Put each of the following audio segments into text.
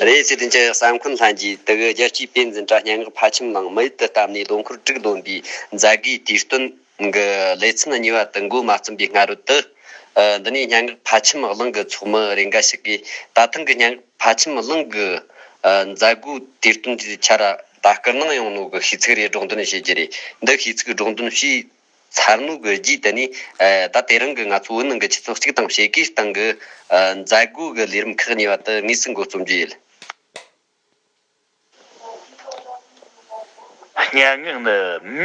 རེད། སྲིད་དོན་སྤྱི་ཡག་ས་མཁོན་ལྷན་རྒྱས་དག་གི་རྒྱལ་སྤྱིའི་དཔེ་འཛིན་དྲ་སྙན་ངག་ཕ་ཁྱིམ་ནང་མི་ཡུལ་དུ་བལྟམས་ནས་ལོ་འཁོར་དྲུག་ལོན་པའི་མཛད་སྒོའི་དུས་སྟོན་གྱི་ལེ་ཚན་གཉིས་པ་དུ་མགོ་མ་བརྩམས་པའི་སྔ་རོལ་དུ། འདི་ནས་སྙན་ངག་ཕ་ཁྱིམ་གླིང་གི་ཚོགས་མི་རེ་འགའ་ཞིག་གིས་ད་ཐེངས་ཀྱི་སྙན་ངག་ཕ་ཁྱིམ་གླིང་གི་མཛད་སྒོའི་དུས་སྟོན་དེའི་ཆར་ལྟ་སྐུལ་གནང་ཡོང་ནོ་གི་ཤིས་ཚིག་རེ་སྒྲོག་འདོན་བྱེད་ཀྱི་རེད། འདི་ཤིས་ཚིག་སྒྲོག་འདོན་ཞེས། མཚར་མོ་དགོས་རྒྱུའི་དེ་ནི་ད་དེ་རིང་གི་ང་ཚོ་བོད་ནང་གི་ཆུ་ཚོད་གཅིག་དང་ཕྱེད་ཀའི་སྟེང་གི་མཛད་སྒོ་གི་ལས་རིམ་ཁག་གཉིས་པ་དེ་དངོས་སུ་མགོ་རྩོམ་རྒྱུ་ཡིན། སྙན་ངག་ནི་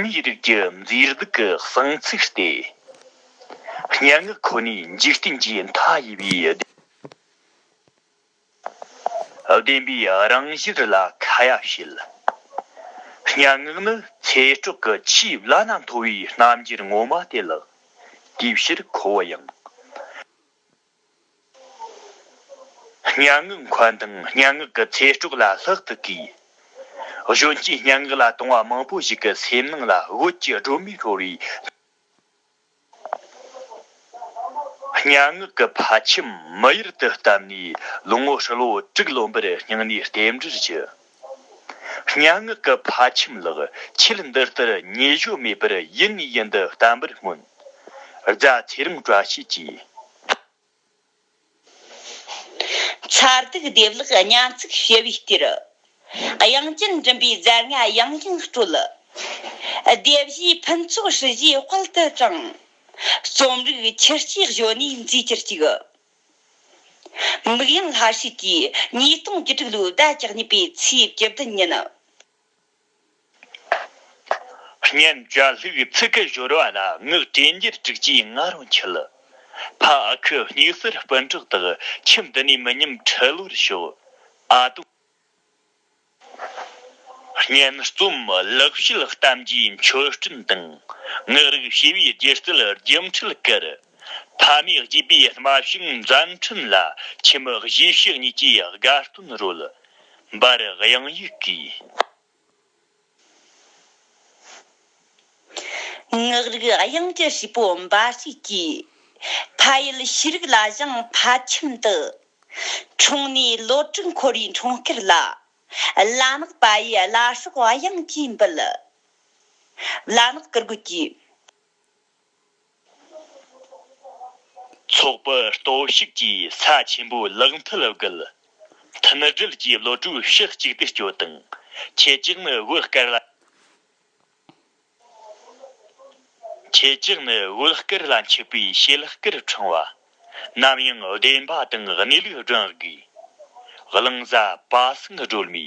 མིའི་རིགས་ཀྱི་མཛེས་སྡུག་གི་གསང་ཚིག་སྟེ། སྙན་ངག་ཁོ་ནའི་འཇིག་རྟེན་གྱི་མཐའ་ཡས་པའི་སྡེ། བདེན་པའི་རང་བཞིར་ལ་ཁ་ཡ་བྱེད། སྙན་ངག་ནི་ཚེ་སྤྲོག་གི་ཆེས་བླ་ན་མཐོ་བའི་རྣམ་འགྱུར་ངོ་མ་དེ་ལགས། དེའི་ཕྱིར་ཁོ་བོ་ཡང། སྙན་ངག་མཁོན་དང་སྙན་ངག་གི་ཚེ་སྤྲོག་ལ་ལྷག་ཏུ་གུས། གཞོན་སྐྱེས་སྙན་ངག་ལ་དུང་བ་མང་པོ་ཞིག་གི་སེམས་ནང་ལ་བོད་ཀྱི་སྒྲོན་མེ་ཤོར་བའི། གཉའ་ངག་གི་ཕ་ཁྱིམ་མི་གཡུར་དུ་བཏབ་ནས་ལོ་ངོ་ཧྲིལ་བོ་དྲུག་ལོན་པར་སྙིང་ནས་རྟེན་འབྲེལ་བགྱི། གཉའ་ངག་གི་ཕ་ཁྱིམ་ལགས་ཁྱེད་འདི་ལྟར་ཉེ་གཞོ་མེད་པར་ཡིད་ནས་ཡིད་འདི་བརྟན་པར་སྨོན། རྫ་ཚེ་རིང་བཀྲ་ཤིས་ཀྱིས། མཚར་སྡུག་སྡེབ་ལག་སྙན་ཚིག་ཞི་བའི་གཏེར། དབྱངས་ཅན་མགྲིན་པའི་རྫས་ལྔ་ཡང་ཡང་སྤྲོད། སྡེ་བཞིའི་ཕུན་ཚོགས་ཧྲི་བཞིའི་དཔལ་དུ་དྲངས། རྩོམ་རིག་ཁྱུ་གཅིག་གཞོན་ནུའི་མཛེས་ཁྱུར་གཅིག། མིག་ཡངས་ལྷ་ཧྲིག་གིས་ཉིས་སྟོང་བཅུ་དྲུག་ལོའི་ཟླ་གཅིག་ཉི་པའི་ཚེས་བཅུ་བདུན་ཉིན། སྙན་བརྒྱ་ལྷུག་ཚིག་གི་སྦྱོར་བ་ལ་ངག་དྲན་གྱིས་དཀྲུགས་ཀྱིས་ང་རང་འཁྱུད། ཕ་ཁུ་སྙུག་གསེར་སྤུན་གྲོགས་དག་ཁྱིམ་འདི་ནས་མི་ཉམས་ཁྲི་ལོར་ཤོག་ཨ། སྙན་རྩོམ་ལེགས་བཤད་གཏམ་གྱི་མཆོད་སྤྲིན་དང་ངག་རིག་ཞི་བའི་སྒྱུ་རྩལ་རྒྱུན་འཁྲིད་ཀར། ཕ་མའི་རྒྱུས་པའི་རྨ་ཤིང་འཛམ་ཁྲིམས་ལ་ཁྱིམ་མི་གཞིས་བྱེས་གཉིས་ཀྱིས་དགའ་སྟོན་རོལ། འབར་དབྱངས་ཡིག་གིས། ངག་རིག་དབྱངས་ཀྱི་ཧྲིལ་པོ་འབའ་ཞིག་གིས། ཕ་ཡུལ་ཤེས་རིག་ལ་བཞེངས་ཕ་ཁྱིམ་དུ། འཁྲུངས་ནས་ལོ་དྲུག་འཁོར་བའི་འཁྲུངས་སྐར་ལ། བླ་ནག་པ་ཡིས་བླ་སྲོག་དབྱངས་ཀྱིས་འབུལ། བླ་ནག་བཀུར་དགོས་ཀྱི། ཚོགས་པ་གཏོར་བཤིག་གིས་ས་ཆེན་པོའི་ལག་མཐིལ་བརྒལ། མཐུན་སྒྲིལ་གྱི་བློ་གྲོས་ཕྱི་གཅིག་བསྡུས་སྐྱོད་དང་ཁྱེད་ཅག་ནི་བོད་སྐད་ལ་མཆིས་པའི་ཤེས་སྐལ་ཕྲེང་བ། ནམ་ཡང་བདེན་པ་དང་གནས་ལུགས་བསྒྲེང་དགོས། གླིང་བཟའ་དཔའ་སེང་སྒྲོལ་མའི།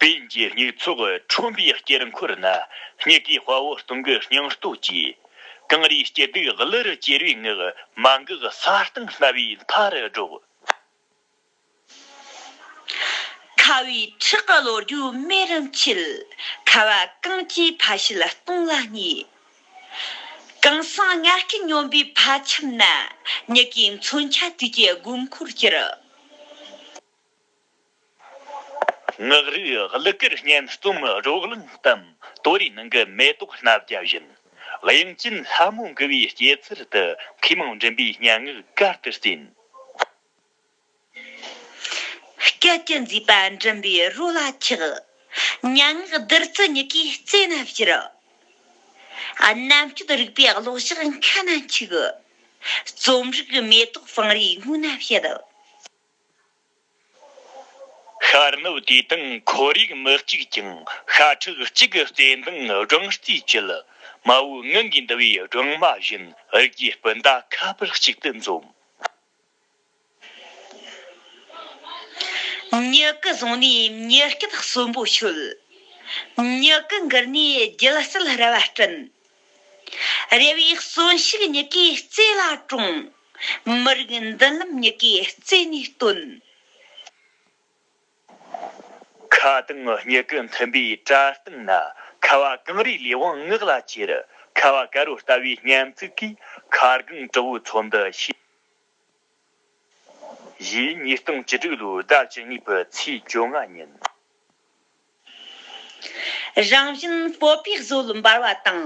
བོན་གྱི་སྙིགས་ཚོགས་ཁྲོན་པའི་དཀྱིལ་འཁོར་ན་སྙིགས་ཀྱི་དཔའ་བོ་སྟོང་གི་སྙིང་སྟོབས་ཀྱིས། གངས་རིའི་སྐྱིད་སྡུག་བླུ་རུ་གྱེར་བའི་ངག་མ་འགག་ས་སྟེང་སྣ་བའི་མཐའ་རུ་སྒྲོགས། ཁ་བའི་ཁྲག་གི་ལོ་རྒྱུས་སྨད་རུ་འཁྱིལ། ཁ་བ་གངས་ཀྱི་ཕ་ཤུལ་སྟོང་ལ་སྙེགས། གངས་སེང་ལྔ་སྐྱིལ་སྙོམས་པའི་ཕ་ཁྱིམ་ན། སྙིགས་ཀྱི་མཚོན་ཆ་དུས་ཀྱི་དགོས་མཁོར་གྱུར། ངག་རིག་གླུ་གར་སྙན་རྩོམ་རོགས་གླིང་དང་སྟོད་རའི་ནང་གི་མེ་ཏོག་སྣ་བརྒྱ་བཞིན་དབྱིངས་ཅན་ལྷ་མོ་མགུ་བའི་སྐྱེད་ཚལ་དུ་མཁས་མང་མགྲིན་པའི་སྙན་ངག་གར་དུ་བརྩིས། སྐད་ཅིག་མཛེས་པ་མགྲིན་པའི་རོ་ལ་འཁྱག། སྙན་ངག་བདུད་རྩི་མྱུ་གུའི་རྩེ་ན་བཞུར། རྣམ་དཔྱོད་རིག་པའི་གློག་ཞགས་མཁའ་ན་འཁྱུག། རྩོམ་རིག་མེ་ཏོག་བང་རིའི་སྔུན་ན་བཞད། ཤར་ནུབ་དུས་དང་ཁོར་ཡུག་མི་གཅིག་ཀྱང་ཤ་ཁྲག་གཅིག་གི་བརྩེ་འདང་སྦྲང་རྩིས་བསྐྱིལ། མ་བུའི་ངང་གིས་འདུ་བའི་སྦྲང་མ་བཞིན་རིགས་ཀྱི་སྤུན་ཟླ་ཁ་པར་གཅིག་ཏུ་འཛོམས། མྱུ་གུ་བཟུང་ནས་མྱུ་སྐད་གསོན་པོ་ཤོད། མྱུ་གུ་འགུལ་ནས་རྒྱུད་གསལ་རེ་བ་སྐྲུན། རེ་བའི་གསོན་ཤུགས་མྱི་གའི་རྩེ་ལ་དྲོངས། མི་རིགས་མདུན་ལམ་མྱི་གའི་རྩེ་ནས་བཏོན། ཁ་དང་མྱི་གུ་མཐུན་པའི་བཀྲ་བཏང་ན། ཁ་བ་གངས་རིའི་ལས་དབང་ངག་ལ་གྱེར། ཁ་བ་ཀ་རོ་ལྟ་བའི་སྙན་ཚིག་གིས། མཁའ་རྒང་དྲག་བོའི་ཚོགས་འདི་ཤེས། བཞི། ཉིས་སྟོང་བཅུ་དྲུག་ལོའི་ཟླ་བཅུ་གཉིས་པའི་ཚེས་བཅོ་ལྔ་ཉིན། རང་བཞིན་སྤོབས་པའི་བཟོ་ལ་འབར་བ་དང།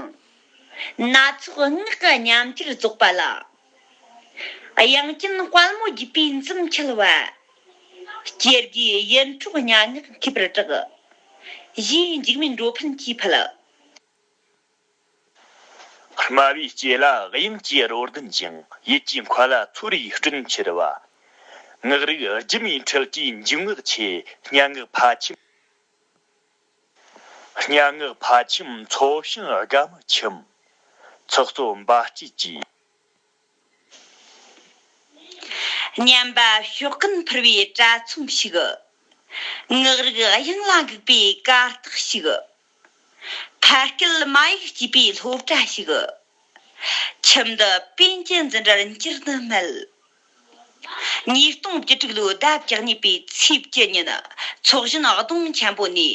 སྣ་ཚོགས་སྔགས་ཀྱི་ཉམས་ཀྱིས་རྫོགས་པ་ལ། དབྱངས་ཅན་དཔལ་མོ་རྒྱུད་པའི་འཛུམ་འཁྱིལ་བ། སྐྱེ་རྒུའི་ཡིད་འཕྲོག་སྙན་ངག་འཐུས་པར་གྲགས། གཞིའི་འཇིགས་མེད་འགྲོ་ཕན་གྱིས་ཕུལ། དམའ་བའི་སྐྱེས་ལ་དབྱིངས་སྐྱེས་རོ་ལྡན་ཅིང་ཡིད་ཀྱི་འཁོར་ལ་མཚོ་རིའི་སྤྲིན་འཁྱིལ་བ། ངག་རིག་སྒྱུ་མའི་འཕྲུལ་གྱིས་འཇུག་ངག་ཆེ་སྙན་ངག་ཕ་ཁྱིམ། སྙན་ངག་ཕ་ཁྱིམ་མཚོ་ཞིང་དགའ་མ་ཁྱིམ། ཚོགས་གཙོ་འབའ་སྐྱིད་ཀྱིས། སྙམ་པ་ཞོག་ཀུན་འཕུར་བའི་པྲ་ཚོམ་ཞིག། ངག་རིག་དབྱངས་ལ་འགུག་པའི་ཀ་རྟགས་ཤིག། ཕ་སྐད་མ་ཡིག་སྐྱིད་པའི་སློབ་གྲྭ་ཞིག། ཁྱིམ་འདི་དཔོན་གྱི་འཛིན་གྲྭར་འགྱུར་ནི་མེད། ཉིས་སྟོང་བཅུ་དྲུག་ལོའི་ཟླ་བརྒྱད་གཉིས་པའི་ཚེས་བཅུ་ཉིན་ཚོགས་གཞོན་སྡོང་ཆེན་པོ་ནས།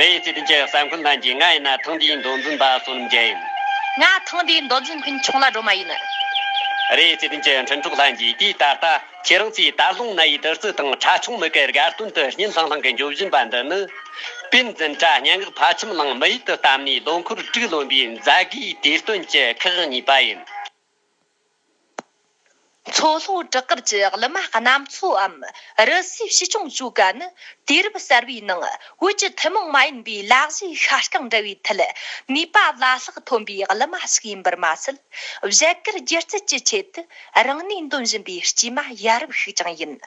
རེད། སྲིད་དོན་གྱི་ས་འཁོན་ལྷན་རྒྱས་ང་ཡིན་ན་ཐེངས་འདིའི་མདོ་འཛིན་པ་བསོད་ནམས་རྒྱལ་ཡིན། ང་ཐེངས་འདིའི་མདོ་འཛིན་འཕེན་ཆུང་ལ་སྒྲོལ་མ་ཡིན། རེད། སྲིད་དོན་གྱི་འཕྲིན་གྲོགས་ལྷན་རྒྱས་དུས་ད་ལྟ་ཁྱེད་རང་ཚོས་དར་ལྷུང་སྣ་ཡི་བདུད་རྩི་དང་ཁྲ་ཆུང་མི་གའི་དགའ་སྟོན་དུ་སྙན་ལྷང་ལྷང་གི་འགྱོད་བཞིན་པ་འདི་ནི། དཔེ་འཛིན་གྲྭ་སྙན་ངག་ཕ་ཁྱིམ་གླིང་མི་ཡུལ་དུ་བལྟམས་ནས་ལོ་འཁོར་དྲུག་ལོན་པའི་མཛད་སྒོའི་དུས་སྟོན་གྱི་ཁག་གཉིས་པ་ཡིན། མཚོ་ལྷོ་བྲག་དཀར་གྱི་གླུ་མ་གནམ་མཚོའམ་རི་སུའི་ཕྱི་སྐྱོང་ཆོ་ག་ནི་དུས་རབས་གསར་པའི་ནང་བོད་ཀྱི་ཐུན་མོང་མ་ཡིན་པའི་ལག་བཞི་ཤ་སྐྲང་འདྲ་བའི་ཐད་ནུས་པ་བླ་ལྷག་ཐོན་པའི་གླུ་མ་ཞིག་ཡིན་པར་མ་ཟད་བཞད་གད་སྒྱུ་རྩལ་གྱི་ཆེད་དུ་རང་ནུས་འདོན་བཞིན་པའི་དཀྱུས་མ་ཡ་རབས་ཤིག་ཀྱང་ཡིན།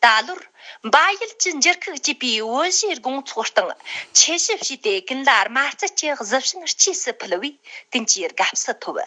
ད་ལོར་འབའ་ཡུལ་གྱི་འགྱུར་ཁུག་ཅེས་པའི་དབུ་བཞུགས་དགོང་ཚོགས་སྟེང་ཆོས་ཞིབ་བྱས་ཏེ་ཀུན་ལ་དམར་རྩལ་གྱི་གཟི་བྱིན་གཅེས་སུ་ཕུལ་བས་ཀུན་གྱི་དགའ་བསུ་ཐོབ།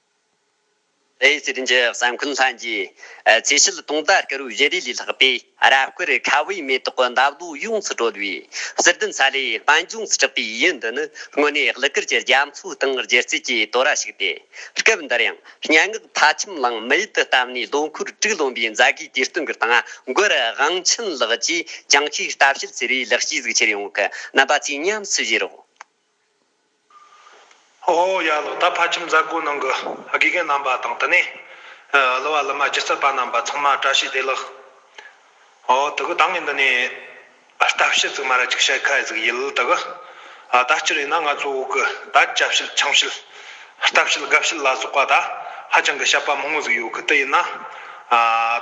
རེའི་རྩེ་རིན་གྱི་ས་འཁོན་ལྷན་གྱིས་རྩེ་ཞལ་སྟོང་དར་དཀར་བོའི་བཞད་རས་ལས་ལྷགས་པའི་རབ་དཀར་ཁ་བའི་མེ་ཏོག་གི་འདབ་ལོ་ཡོངས་སུ་དཀྲོལ་བའི་གསེར་ལྡན་ས་ལེའི་དཔལ་འབྱུང་སྐྲག་པའི་ཡུལ་འདི་ནི་དངོས་གནས་གླུ་གར་གྱི་རྒྱ་མཚོའི་སྟེང་སྒྱུ་རྩལ་གྱི་དོ་ར་ཞིག་སྟེ། སྐབས་འདིར་ཡང་སྙན་ངག་མཐའ་ཁྱིམ་གླིང་མི་ཡུལ་དུ་བཏབ་ནས་ལོ་འཁོར་དྲུག་ལོན་པའི་མཛད་དགེ་དུས་སྟོན་གྱི་སྟེང་མགུར་དབང་ཆེན་ལགས་ཀྱིས་བྱང་ཆུའི་ལྟ་བཤད་ཟེར་བའི་ལེགས་སྐྱེས་གཟིགས་ཕྱིར་ཡོངས་ཀྱི་རྣམ་པ་ཚིག་ཉམས་སུ་བཞེས་རོགས། ཧོ་ཧོ་ཡ་ལོ་ད་ཕ་ཁྱིམ་མཛད་སྒོའི་ནང་གི་དགེ་རྒན་རྣམ་པ་དང་དེ་ནས་གླུ་བ་གླུ་མ་སྒྱུ་རྩལ་པ་རྣམ་པ་ཚང་མ་བཀྲ་ཤིས་བདེ་ལགས། ཨོ་དེ་གུ་ད་ངས་འདི་ནས་ལྟ་བཤད་ཙིག་མ་ར་ཅིག་བྱེད་ཁ་ཟིག་ཡིད་ལ་དེ་གུ་ད་སྤྱིར་ཡིན་ན་ང་ཚོ་བོད་གི་ད་བཅའ་བཤད་ཆང་བཤད་ལྟ་བཤད་དགའ་བཤད་ལ་སོགས་པ་ད་ཧ་ཅང་གི་བཤད་པ་མང་བོ་ཟིག་ཡོད་གི་དེ་ཡིན་ན་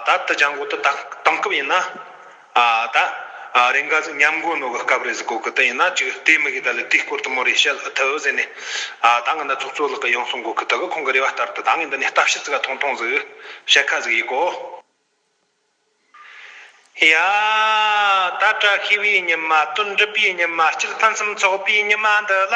ད་དེ་བྱ་འགོ་དེ་དང་སྐབས་ཡིན་ན། ཨ་ད། རེས་འགའ་ཟིག་ཉམས་དགོས་ནོ་གི་སྐབས་རེ་ཟིག་གོ་གི་ད་ཡིན་ན་ཅིག་ལྟས་མི་གི་ད་ལི་དེའི་སྐོར་དུ་མོ་རེ་བཤད་ལ་ཐུ་ཟེར་ནས། ཨ་ད་ང་ད་ཚོགས་གཙོ་ལགས་གི་ཡང་སོང་གོ་གི་ད་གི་ཁོང་གི་རེ་བ་ལྟར་དུ་ད་ངས་འདི་ནས་ལྟ་ཕྱི་ཙི་ག་ཐོང་ཐོང་ཟིག་བཤད་ཁ་ཟིག་ཡིག་གོ། ཡ། ད་བཀྲ་ཤིས་པའི་ཉི་མ་དོན་འགྲུབ་པའི་ཉི་མ་སྤྱིར་ཕུན་སུམ་ཚོགས་པའི་ཉི་མ་འདི་ལ།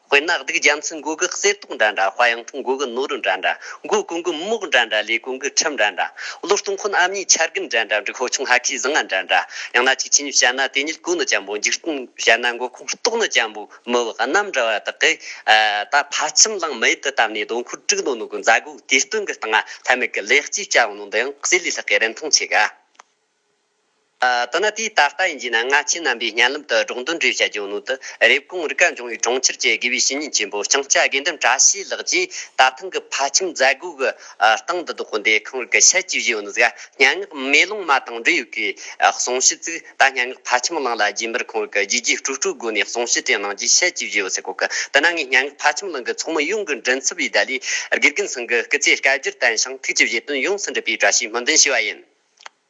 དཔེར་ན་སྡིག་རྒྱམ་ཚི་མགོ་གི་གསེར་ཏོག་འདྲ་འདྲ་དཔའ་ཡང་ཐུང་མགོ་གི་ནོར་རུ་འདྲ་འདྲ་མགོ་གོང་གི་མོག་འདྲ་འདྲ་ལས་གོང་གི་ཁྲིམས་འདྲ་འདྲ་བློ་གཏོང་ཁོ་ན་ཨམ་ཉིའི་ཆར་རྒུན་འདྲ་འདྲ་འབྲི་ཁོ་ཆུང་ཧ་ཁའི་གཟི་ལྔ་འདྲ་འདྲ་ཡང་ན་ཆིག་ཆིན་བྱ་ན་དེ་ཉིད་གོས་ནི་ལྕམ་པོ་འཇིག་རྟེན་བྱ་ན་མགོ་ཁོང་ལྟོགས་ནི་ལྕམ་པོ་མི་བག་རྣམས་འདྲ་བ་དག་གིས་ད་ཕ་ཁྱིམ་གླིང་མེད་དུ་བཏབ་ནས་རྡོ་འཁོར་དཀྲུགས་ནོ་ནོ་གི་མཛའ་གོས་དེ་སྟོན་གི་སྟངས་ཨ་ལྷད་མེད་གི་ལེགས་སྐྱེས་བྱ་བ་ནོ་འདི་ཡང་གསེར་ལས་ལྷག་གི་རིན་ཐང་ཆེ་ག། དོ་ན་དུས་ད་ལྟ་ཡིན་རྒྱུ་ན་སྔ་ཕྱི་རྣམ་པའི་གཉན་ལམ་དུ་འབྲོག་འདུལ་འབྲེལ་བྱ་རྒྱུའི་སྣོད་དུ་རེབ་གོང་རི་ཀ་འབྱུང་བའི་གྲོང་ཁྱེར་གྱི་དགེ་བའི་བཤེས་གཉེན་ཆེན་པོ་ལྕང་སྐྱ་དགེ་འདུན་བཀྲ་ཤིས་ལགས་ཀྱིས་ད་ཐེངས་ཀྱི་ཕ་ཁྱིམ་མཛད་སྒོའི་གི་སྟེང་དུ་རྡོ་འདེ་ཁང་རི་ཀ་ཕྱེད་ཀྱི་བཞི་བོན་གཟའ་སྙན་ངག་མེ་ལོང་མ་དང་འབྲེལ་ཡོད་ཀྱི་གསུང་བཤད་བཙུགས་ད་སྙན་ངག་ཕ་ཁྱིམ་གླིང་ལ་རྗེ་འབར་ཁང་རི་ཀ་བརྗིད་ཀྱི་སྤྲོ་སྤྲོའི་སྒོ་ནས་གསུང་བཤད་སྤྲིངས་གནང་རྗེས་ཕྱེད་ཀྱི་བཞི་བོ་ཚེ་ཁོག་གི་དུ་ན་ངས་སྙན་ངག་ཕ་ཁྱིམ་གླིང་གི་ཚོགས་མི་ཡོངས་ཀྱི་མགྲིན་ཚབ་བའི་བརྡ་ལས་དགེ་རྒན་ཚང་གི་སྐུ་ཚེ་བསྐལ་བརྒྱར་བརྟན་ཞིང་ཐུགས་ཀྱི་བཞེད་དོན་ཡོངས་སུ་འགྲུབ་པའི་བཀྲ་ཤིས་སྨོན་འདུན་ཞུ་བ་ཡིན།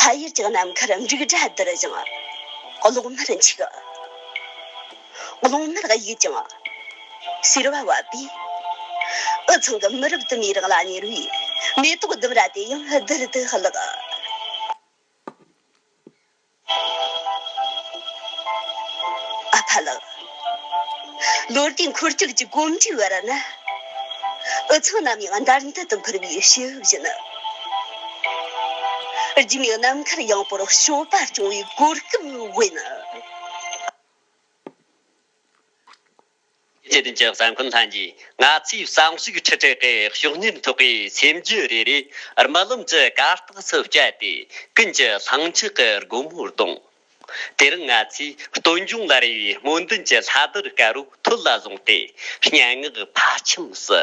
ཕ་ཡུལ་གྱི་ནམ་མཁར་འབྲུག་སྒྲ་དིར་ཞིང། གློག་མར་འཁྱུག། གློག་མར་གཡུག་ཀྱང། ཟེར་བ་བབས་པས། འུ་ཚང་གི་མི་རབས་དུ་མའི་རང་ལ་གཉེར་བའི་མེ་ཏོག་ལྡུམ་ར་དེ་ཡང་དིར་དུ་བརླགས། ཨ་ཕ་ལགས། ལོ་རྒྱུས་འཁོར་སྐྱོད་ཀྱི་གོམ་བགྲོད་བར་ན། འུ་ཚང་ནམ་ཡང་འདར་འདར་དུ་འཕུར་བའི་ཕྱི་དབྱིབས་ནི། རྒྱུས་མེད་ནམ་མཁར་ཡངས་པོར་གཤོག་པ་རྐྱོང་བའི་གོ་སྐབས་དབེན་ན། སྐྱེ་ལྡན་གྱི་གསང་འཁོན་ལྷན་གྱིས་ང་ཚོའི་བསམ་གཞིག་ཁྲི་ཕྲག་གི་གཤོག་སྙིང་ཐོག་གི་སེམས་རྒྱུད་རེ་རེ་རྨི་ལམ་གྱི་གར་སྟེགས་སུ་བསྐྱལ་ཏེ་ཀུན་གྱི་ལྷིང་འཇགས་ཀྱི་སྒོ་མོ་གདོང། དེ་རིང་ང་ཚོས་སྟོན་ལྗོངས་ལ་རེ་བའི་སྨོན་འདུན་གྱི་ལྷ་དར་དཀར་པོ་ཐོད་ལ་བཟུང་སྟེ་སྙན་ངག་ཕ་ཁྱིམ་སུ།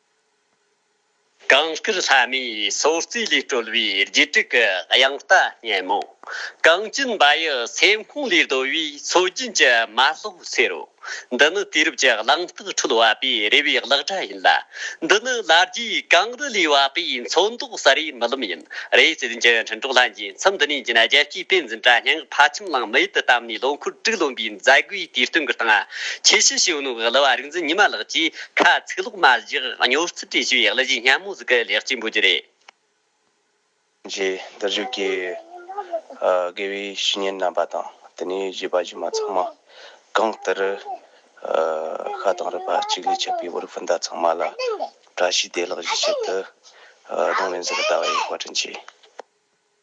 གངས་སྐྱིད་ལྷ་མོའི་སོ་རྩིས་ལས་གྲོལ་བའི་རྗེས་དྲུག་གི་དབྱངས་རྟ་སྙན་མོ། གངས་སྐྱིད་འབའ་ཡུལ་སེམས་ཁོངས་ལས་བརྡོལ་བའི་མཚོ་རྒྱུན་གྱི་མ་ལྷོ་ཚེ་རོ། འདི་ནི་དུས་རབས་ཀྱི་གླེང་སྟེགས་ཁྲོད་བ་པའི་རེ་བའི་གླགས་སྒྲ་ཡིན་ལ། འདི་ནི་ལ་རྒྱའི་གངས་རི་ལས་བ་པའི་མཚོ་མདོག་གསར་བའི་རྨི་ལམ་ཡིན། རེ་བརྩེ་ལྡན་གྱི་འཕྲིན་གྲོགས་ལྷན་རྒྱས་མཚམས་འདི་ནས་རྒྱུན་རྒྱལ་སྤྱིའི་དཔེ་འཛིན་གྲྭ་སྙན་ངག་ཕ་ཁྱིམ་གླིང་མི་ཡུལ་དུ་བལྟམས་ནས་ལོ་འཁོར་དྲུག་ལོན་པའི་མཛད་སྒོའི་དུས་སྟོན་གྱི་སྟེང། ཁྱེད་ཤི་ཤི་ཡོད་ནོ་གི་གླུ་བ་རིག་འཛིན་ཉི་མ་ལགས་ཀྱིས། ཁ་ཚིག་ལོག་མ་བཞག་སྨྱོ་རྩིས་བྲིས་ཞུ་ཡག་ལ་གཞི་སྙམ་མོ་ཟིག་གི་ལེགས་སྐྱེས་འབུལ་རྒྱུ་རེད། རྗེ་བདག་བཞུགས་ཀྱི་དགེ་བའི་བཤེས་གཉེན་རྣམ་པ་དང་དེ་ནས་གཞས་པ་གཞས་མ་ཚང་མ་གང་ལྟར་ཤ་དང་རུས་པ་གཅིག་ལས་ཆད་པའི་བོར་ཕུ་མདའ་ཚང་མ་ལ་བཀྲ་ཤིས་བདེ་ལགས་ཞེས་ཆེད་དུ་གདུང་ལེན་ཟུར་ལྟ་བ་ཡིས་བཀའ་དྲིན་ཆེ།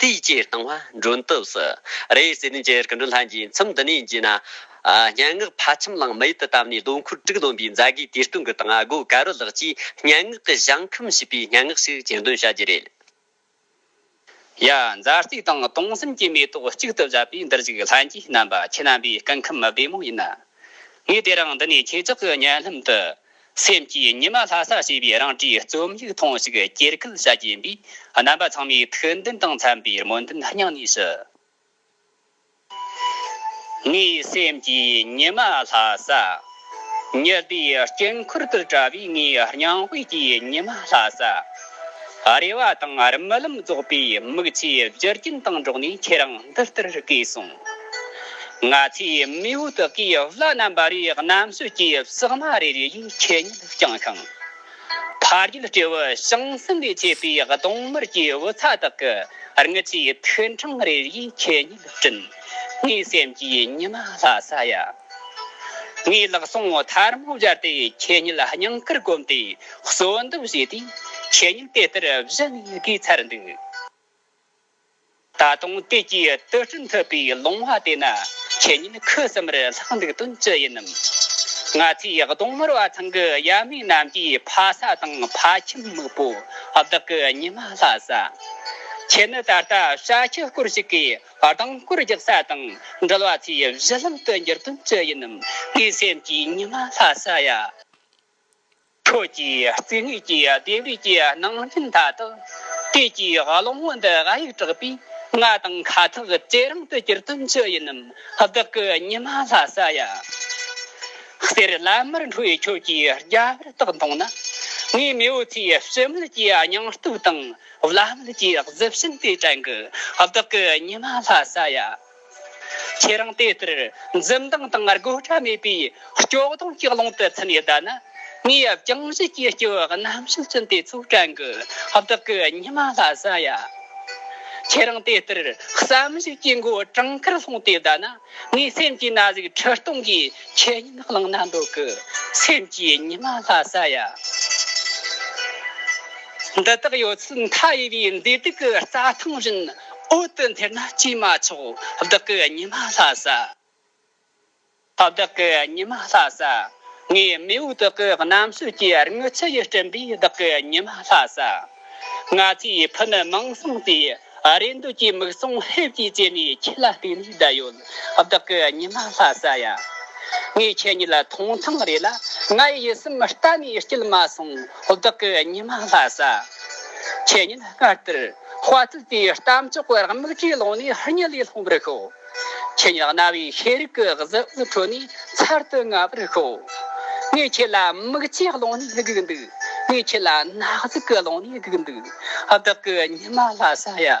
དེའི་སྤྱིར་བཏང་བ་མགྲོན་བཏུབས་སུ་རེད་ཟེར་ནས་འཇལ་གི་འགྲོ་ལྷན་རྗེས་མཚམས་འདི་ནས་བརྗེས་ན། སྙན་ངག་ཕ་ཁྱིམ་གླིང་མེད་དུ་བཏབ་ནས་ལོ་འཁོར་དྲུག་ལོན་པའི་མཛད་དགེ་དེ་སྟོན་གི་དང་ཨ་སྒོ་ཀ་རོ་ལགས་ཀྱིས་སྙན་ངག་གི་བཞེངས་ཁམས་ཞེས་པའི་སྙན་ངག་ཞིག་གྱེར་འདོན་བྱ་རྒྱུ་རེད། ཡ། མཛའ་གཅིག་དང་སྟོང་གསུམ་གྱི་མེ་ཏོག་གཅིག་ཏུ་བཞད་པའི་འདིར་གཞུག་ལྷན་རྒྱས་རྣམ་པ་ཁྱེད་རྣམ་པའི་སྐུ་ཁམས་བདེ་མོ་ཡིན། ངས་དེ་རིང་འདི་ནས་ཁྱེད་ཅག་གི་སྙན་ལྷམ་དུ། སེམས་ཀྱི་ཉི་མ་ལྷ་ས་ཞེས་པའི་རང་གྲས་རྩོམ་ཡིག་ཐེངས་ཤིག་གྱེར་སྐུལ་བྱ་གྱིན་པའི་རྣམ་པ་ཚང་མའི་ཐུགས་འདུན་དང་འཚམ་པའི་སྨོན་འདུན་སྙིང་ནས་ཞུ། ངའི་སེམས་ཀྱི་ཉི་མ་ལྷ་ས། ཉི་ཟླའི་དཀྱིལ་འཁོར་དུ་བཀྲ་བའི་ངའི་སྙིང་དབུས་ཀྱི་ཉི་མ་ལྷ་ས། རེ་བ་དང་རྨི་ལམ་རྫོགས་པའི་མིག་ཆུའི་རྒྱུ་རྐྱེན་དང་འགྲོགས་ནས་ཁྱེད་རང་འདི་ལྟར་བརྐོས་སོང། ང་ཚོའི་མིའུ་དག་གིས་བླ་ན་མེད་པའི་གནམ་སྲོལ་གྱི་བསྲེགས་མ་རེ་རེ་བཞིན་ཁེ་ཉིན་བསྐྱངས་ཤིང། ཕ་རྒྱུད་སྤྲེའུ་བྱང་སེམས་ལས་མཆེད་པའི་གདོང་དམར་གྱི་བུ་ཚ་དག་གི་རྔུལ་ཆུའི་ཐུན་འཕྲང་རེ་རེ་བཞིན་ཁེ་ཉིན་བསྐྲུན། ངའི་སེམས་ཀྱི་ཉི་མ་ལྷ་ས་ཡ། ངས་ལག་ཟུང་ཐར་མོ་སྦྱར་ཏེ་ཁེ་ཉིན་སྙིང་གར་བསྒོམས་ཏེ་གསོལ་འདེབས་བྱས་དུས་ཁེ་ཉིན་དེ་ལྟར་བཞུད་ནས་དགའི་མཚར་འདུག། ད་དུང་དེ་གའི་དུད་སྤྲིན་འཐུལ་པའི་ལུང་བ་དེ་ན་ཁྱེད་ཉིད་ཁུ་སིམ་རེར་ལྷག་འདུག་དོན་ཅི་ཡིན་ནམ། ང་ཚོའི་གདོང་དམར་བ་ཚང་གི་ཡབ་མེས་རྣམས་ཀྱི་ཕ་ས་དང་ཕ་ཁྱིམ་སྨུག་པོ་བདག་གི་ཉི་མ་ལྷ་ས། ཁྱེད་ནི་ད་ལྟ་བྱ་ཁྱུ་སྐོར་ཞིག་གི་རྡང་སྐོར་རྒྱག་ས་དང་འགྲུལ་བ་ཚོའི་གཞི་ལམ་དུ་འགྱུར་དོན་ཅི་ཡིན་ནམ་ངའི་སེམས་ཀྱི་ཉི་མ་ལྷ་ས་ཡ། ཁྱོད་ཀྱིས་རྩིས་ངེས་ཀྱི་ལྡེབས་རིས་ཀྱི་ནང་རྐྱེན་མཐའ་དག་དེ་ཀྱི་གླེང་མོལ་འདི་ཨ་ཡིག་དྲག་པོས་ང་དང་ཁ་ཐག་ཇེ་རིང་དུ་གྱུར་དོན་ཅི་ཡིན་ནམ་བདག་གི་ཉི་མ་ལྷ་ས་ཡ། གསེར་བླ་མར་འཁྲུལ་བའི་ཁྱོད་ཀྱི་རྒྱ་བལ་རྟགས་མཐོང་ན། ངའི་མེས་པོ་ཚོའི་ཞི་མོལ་གྱི་སྙིང་སྟོབས་དང་བླ་མེད་ཀྱི་གཟི་བྱིན་དེ་དྲན་གི་བདག་གི་ཉི་མ་ལྷ་ས་ཡ། ཁྱེད་རང་དེ་ལྟར་འཛུམ་མདངས་དང་རྒོད་སྒྲ་མེད་པའི་སྐྱོ་གདུང་གི་ཀློང་དུ་འཚུད་ནས་བསྡད་ན། ངའི་རྒྱང་བཞིན་གྱི་སྐྱེ་བོ་རྣམ་བཞི་ཅན་དེ་ཚོའི་བྲན་གྱི་བདག་གི་ཉི་མ་ལྷ་ས་ཡ། ཁྱེད་རང་དེ་ལྟར་བསམ་གཞིགས་ཀྱི་མགོ་གྲང་ཁར་ལྷུང་སྟེ་བསྡད་ན། ངའི་སེམས་ཀྱི་ན་ཟུག་ཁྲི་སྟོང་གི་ཆོས་ཉིད་བླངས་ན་འདོད་གི་སེམས་ཀྱི་ཉི་མ་ལྷ་ས་ཡ། འདི་དག་ཡོད་ཚད་མཐའ་ཡས་པའི་མཛེས་སྡུག་གི་རྩྭ་ཐང་བཞིན། འོད་དུ་འཐེར་ན་ཅིས་མ་ཆོག། བདག་གི་ཉི་མ་ལྷ་ས། བདག་གི་ཉི་མ་ལྷ་ས། ངའི་རྨེའུ་བདག་གི་གནམ་སྲོལ་གྱི་རིང་ཚད་ཡིས་བསྐྲུན་པའི་བདག་གི་ཉི་མ་ལྷ་ས། ང་ཚོའི་ཕུ་ནུ་མིང་བཟང་དེ་རེ་འདོད་ཀྱི་མིག་ཟུང་ཧེབ་ཀྱིས་ཅེར་ནས་ཁྱེད་ལ་གཏུགས་ནས་བསྡད་ཡོད་བདག་གི་ཉི་མ་ལྷ་ས་ཡ། ངས་ཁྱེད་གཉིས་ལ་ཐོང་ཐང་རེད་ལ་ངའི་ཡིད་སེམས་གཏན་ནས་སྐྱིད་མ་སོང་བདག་གི་ཉི་མ་ལྷ་ས། ཁྱེད་གཉིས་སྔར་ལྟར། དཔའ་རྟུལ་པའི་གཏམ་གྱི་དཔེར་དམིགས་ཀྱིས་ལོང་ནས་སྙི་ལས་སློང་བར་ཤོག། ཁྱེད་ཉག་ན་བའི་ཤེས་རིག་གི་གཟི་འོད་ཁྲོད་ནས་ཚར་དུ་དངར་བར་ཤོག། ངས་ཁྱེད་ལ་མིག་ལྕེ་སློང་ནས་སྒུག་འདུག་ངས་ཁྱེད་ལ་ནག་ཟུག་སློང་ནས་སྒུག་འདུག་བདག་གི་ཉི་མ་ལྷ་ས་ཡ།